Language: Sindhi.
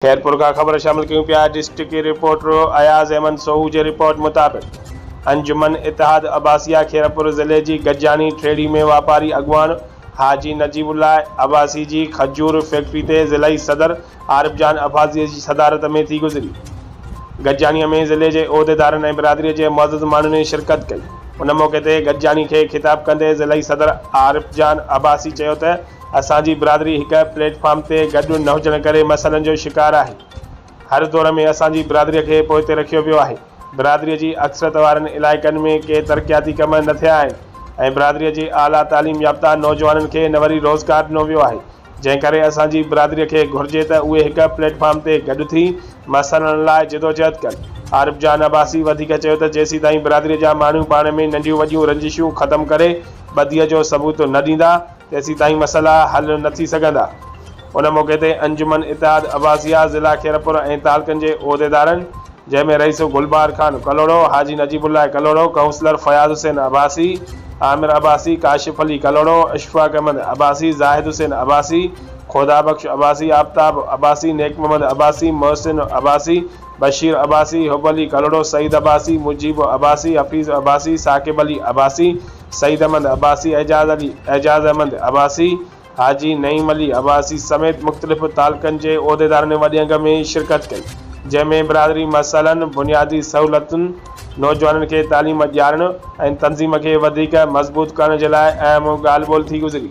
خيرپور کان خبر شامل ڪيون پيا ڊسٽڪي رپورٽر اياز احمد سوهو جي رپورٽ مطابق انجمن اتحاد عباسيه خيرپور ضلعي جي گجاڻي ٺيڙهي ۾ واپاري اڳواڻ حاجي نجيب الله عباسي جي کجور فيڪٽري تي ضلعي صدر عارف جان عباسيه جي صدارت ۾ ٿي گذري گجاڻي ۾ ضلعي جي عهديدارن ۽ برادري جي معزز ماڻهن شرڪت ڪئي ان موقعي تي گجاڻي کي خطاب ڪندي ضلعي صدر عارف جان عباسي چيو ته اسان جي برادري هڪ پليٽ فارم تي گڏ نه هجڻ ڪري مسئلن جو شڪار آهي. هر دور ۾ اسان جي برادري کي پوئتي رکيو ويو آهي. برادري جي اڪثريت وارن علائقن ۾ ڪي ترقياتي ڪم نه ٿيا آهن ۽ برادري جي اعليٰ تعليم يافته نوجوانن کي نه وري روزگار ڏنو ويو آهي جنهن ڪري اسان جي برادري کي گهرجي ته اهي هڪ پليٽ فارم تي گڏ ٿي مسئلن لاء جدوجهد ڪن. عارف جان عباسي وڌيڪ چيو ته جيسيتائين برادري جا ماڻهو پاڻ ۾ ننڍيون وڏيون رنجشون ختم ڪري ٻڌيء جو ثبوت نه ڏيندا، تيسيتائين مسئلا حل نه ٿي سگهندا. ان موقعي تي انجمن اتحاد عباسيه ضلع خيرپور ۽ تعلقن جي عهديدارن جنهن ۾ رئيس گلبهار خان ڪلهوڙو، حاجي نجيب الله ڪلهوڙو، ڪائونسلر فياض حسين عباسي، عامر عباسي، ڪاشف علي ڪلهوڙو، اشفاق احمد عباسي، زاهد حسين عباسي، خدا بخش عباسي، آفتاب عباسي، نيڪ محمد عباسي، محسن عباسي، بشير عباسي، حب علي ڪلهوڙو، سعيد عباسي، مجيب عباسي، حفيظ عباسي، ثاقب علي عباسي، سعيد احمد عباسي، اعجاز علي، اعجاز احمد عباسي، حاجي نعيم علي عباسي سميت مختلف تعلقن جي عهديدارن وڏي انگ ۾ شرڪت ڪئي، جنهن ۾ برادري مسئلن، بنيادي سهولتن، نوجوانن کي تعليم ڏيارڻ ۽ تنظيم کي وڌيڪ مضبوط ڪرڻ جي لاء اهم ڳالهه ٻولهه ٿي گذري.